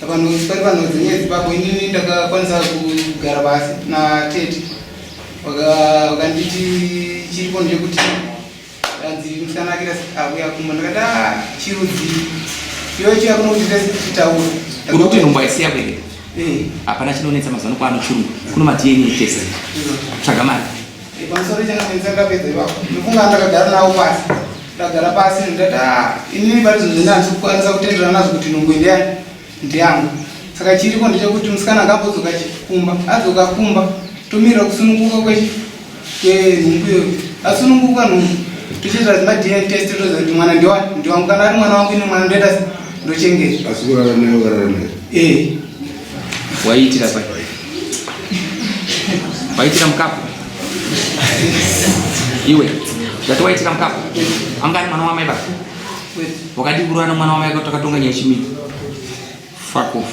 Vanhu pari vanhu dzenyaya dzepapo inini ndakakwanisa kugara pasi natete vakanditi chiripo ndechekuti anzi musanakira auya kumba ndakati ah, chirudzi iyo chiya kuno kuti tese tichitaura uri kuti nhumbu aisiya kwere eh. hapana chinonetsa mazuva ano kwaano chirungu kuno madna tese tsvaga mari Pamusoro changamwenzi akapedza ipapo ndofunga ndakagara nawo pasi ndagara pasi ndikati ah, inini pari zvinhu zvinanzi kukwanisa kutenderana nazvo kuti nungu ndiyani ndiyangu saka chiriko ndechekuti musikana akambodzoka chikumba adzoka kumba tomirira kusununguka kwenhumbuyo asununguka nhumbu tochiita zima dna test toziva kuti mwana ndiwani ndiwangu kana ari mwana wangu ine mwana ndoita ndochengeta asi kurara nayo karara nayo ee eh. Waiitira pai? Waiitira mukapu? Iwe, ndati waiitira mukapu? Anga ari mwana wamai baba? Wakadii kuroana mwana wamai kuti akatonga nyaya chimini? Fuck off.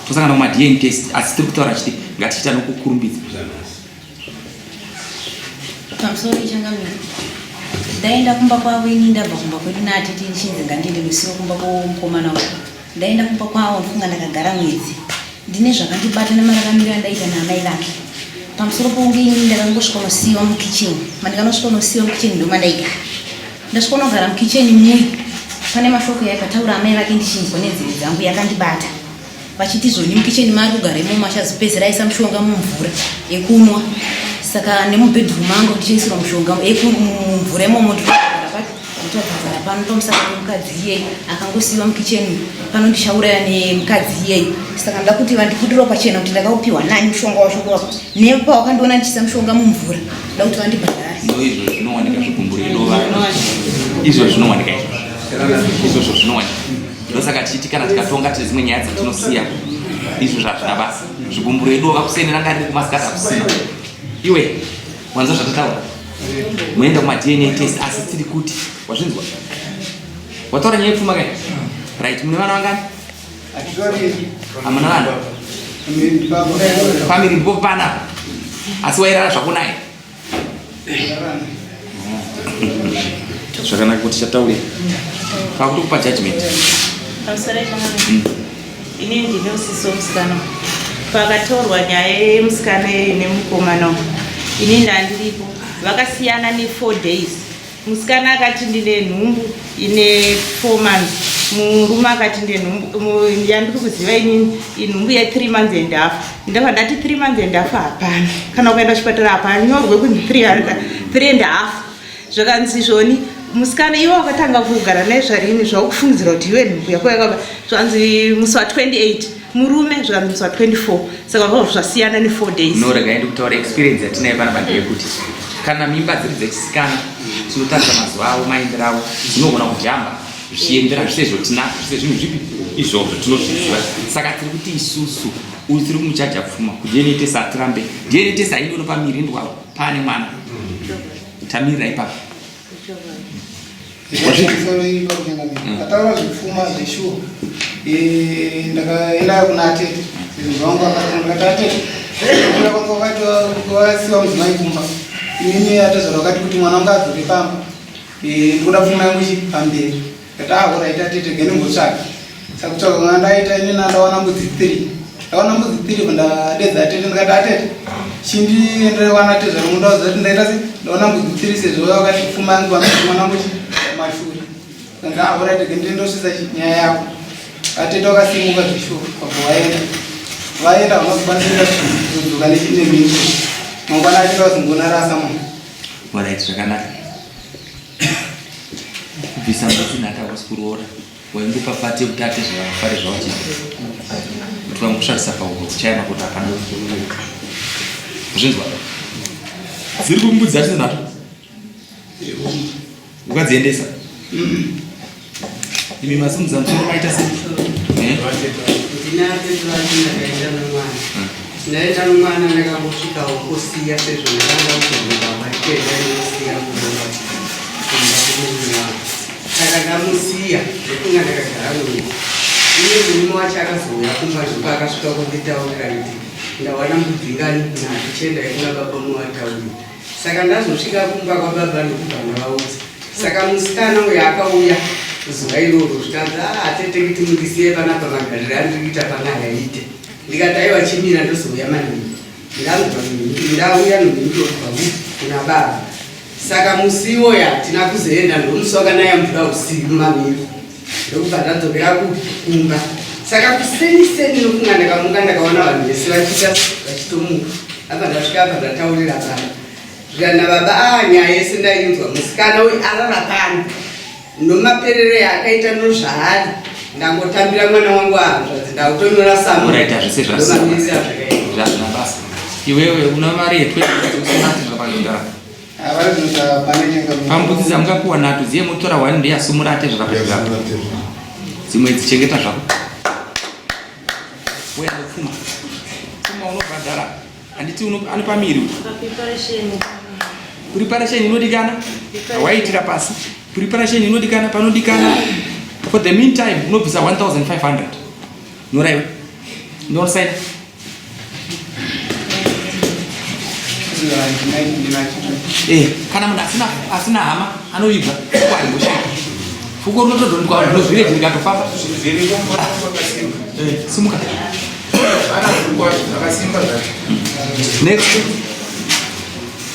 Tosangana kuma DNA test asi tiri kutaura chiti ngatichita nokukurumbidza. pamusoro ichangamira ndaenda kumba kwavo ini ndabva kumba kwedu naatete ndichinzi ngandiende musiwo kumba kwomukomana uku ndaenda kumba kwavo ndofunga ndakagara mwedzi ndine zvakandibata nemararamiro andaita naamai vake pamusoro pokunge ini ndakangosvika nosiyiwa mukitchen mandikanasvika nosiyiwa mukitchen ndo mandaigara ndasvika unogara mukitchen muyi pane mashoko yaikataura amai vake ndichinzwa nenzeve dzangu yakandibata vachitizoni mukicheni mari kugaremo machazopedzera aisa mushonga mumvura yekunwa saka nemubedroom mangu ndichiisirwa mushonga mumvura imomo nditogadzara pano tomusaka nemukadzi iyeyi akangosiiwa mukicheni pano ndichauraya nemukadzi iyeyi saka ndoda kuti vandiputiro pachena kuti ndakaupiwa nani mushonga wacho wako nepawakandiona ndichiisa mushonga mumvura ndoda kuti vandibhadhare izvo zvinowanika zvikumburi izvo zvinowanika izvozvo zvinowanika ndosaka tichiti kana tikatonga tine dzimwe nyaya dzatinosiya izvo zvazvina basa zvigumburo edu vakuseni ranga riri kumasikati akusina iwe wanza zvatataura moenda kumadna test asi tiri kuti wazvinzwa wataura nyaya yepfuma kai right mune vana vangani hamuna vana famiri mbo pana asi wairara zvakunaye zvakanaka kuti chataure pakutokupa judgment pamusoro ipaana mm. ini ndine usisi womusikana pakatorwa nyaya yemusikana yeyo nemukomana ini ndandiripo vakasiyana ne4 days Musikana akati ndine nhumbu ine four months murume akati ndine nhumbu yandiri kuziva inini inhumbu yethree months and half ndava ndati three months and half hapana kana ukaenda kuchipatara hapanyorwe kunzi three and half zvakanzi zvoni musikana iwe wakatanga kugara naye zvarini zvakufungidzira kuti iwe nhumbu yako yakaba zvanzi musi wa 28 murume zvikanzwa 24 saka zvavo zvasiyana ne 4 days no regai ndikutaura experience yatinayo panapa ndeyekuti kana mimba dziri dzechisikana tinotarisa mazuva avo maendero avo tinogona kujamba zvichiendera zvise zvotinazvo zvise zvinhu zvipi izvozvo tinozviziva saka tiri kuti isusu uyu tiri kumuchaja pfuma kudna tesa hatirambe dna tesa haindono pamiri ndwavo paane mwana tamirira ipapo ataura zvekufuma zveshuwa ndakaenda kuna atete zvangu akati atete kwakasiwa mudzimai kumba inini atezvara vakati kuti mwana wangu adzoke pamba ndikuda pfuma yangu ichi pamberi Ndakahura ita tete gene ngotsvaka. Sakutsvaka kana ndaita ini ndaona mbudzi 3. Ndaona mbudzi 3 kundadedza tete ndikati atete. Chindi ende wana tete zvamunoda kuti ndaita se ndaona mbudzi 3 sezvo wakati pfuma yangu mwana wangu mashuri. Ndakahura ita gene ndosisa nyaya yako. Atete wakasimuka zvishuwa kwa kuwaenda. Vaenda vanokwanisa kudzoka nechine mimba. Mangwana achita zingona rasa mwana. Mwana achita zvakanaka. kubvisa mbuti nhati hakusi kuroora waingopa pati yekuti ate zvavafare zvawachita kuti vangosvakisa pauro kuchayana kuti hapana zvinzwa dziri kumbudzi dzacho dzinhato ukadziendesa Imi masimudza msoro maita se. Eh? Ndinate zvati ndakaenda nomwana. Ndaenda nomwana ndakambosvika wokusiya sezvo ndakanga kuzobuda maitenda inosiya kubuda kumba kumumwe wangu. Saka ndamusiya ndokunga ndakagara nomwe. Iye murume wacho akazouya kumba zvokuti akasvika kunditaurira kuti ndawana mudzinganyi kuna tichienda ikuna baba mumwe wataurira. Saka ndazosvika kumba kwababa ndokubva ndavaudza. Saka musikana uyo akauya zuva iroro zvikanzi ah, atete kuti mundisiye panapa magariro andiri kuita pana hayaite ndikati aiwa chimira ndozouya maningi ndangwa ndauya nondobva kuna baba saka musi iwoyo hatina kuzoenda ndomusi wakanaya mvura usiku mamiro ndokubva ndadzokera kumba saka kuseni seni nokunga ndakamuka ndakaona vanhu vese vachiita vachitomuka apa ndasvika apa ndataurira baba zvikana baba a ah, nyaya yese ndainzwa musikana uyu arara pano nomaperero yaakaita nozvaari ndangotambira mwana wangu ahanzvadzi ndakutonyora samuaita zvese zvasazvakaita zvazvinabasa iwewe una mari yetwe zvapanogara pambudzi dzamungapiwa nato dziye motora one day asumura ate zvakapezvako dzimwe dzichengeta zvako uya nopfuma pfuma unobhadhara handiti anopa miri preparation inodikana waiitira pasi preparation inodikana panodikana for the meantime unobvisa 1500 nyoraiwe ndosaina Eh, kana munhu asina asina hama anoibva kwari mushe fuko rinotodondwa vanhu ndozvireji ndikatofamba eh, simuka next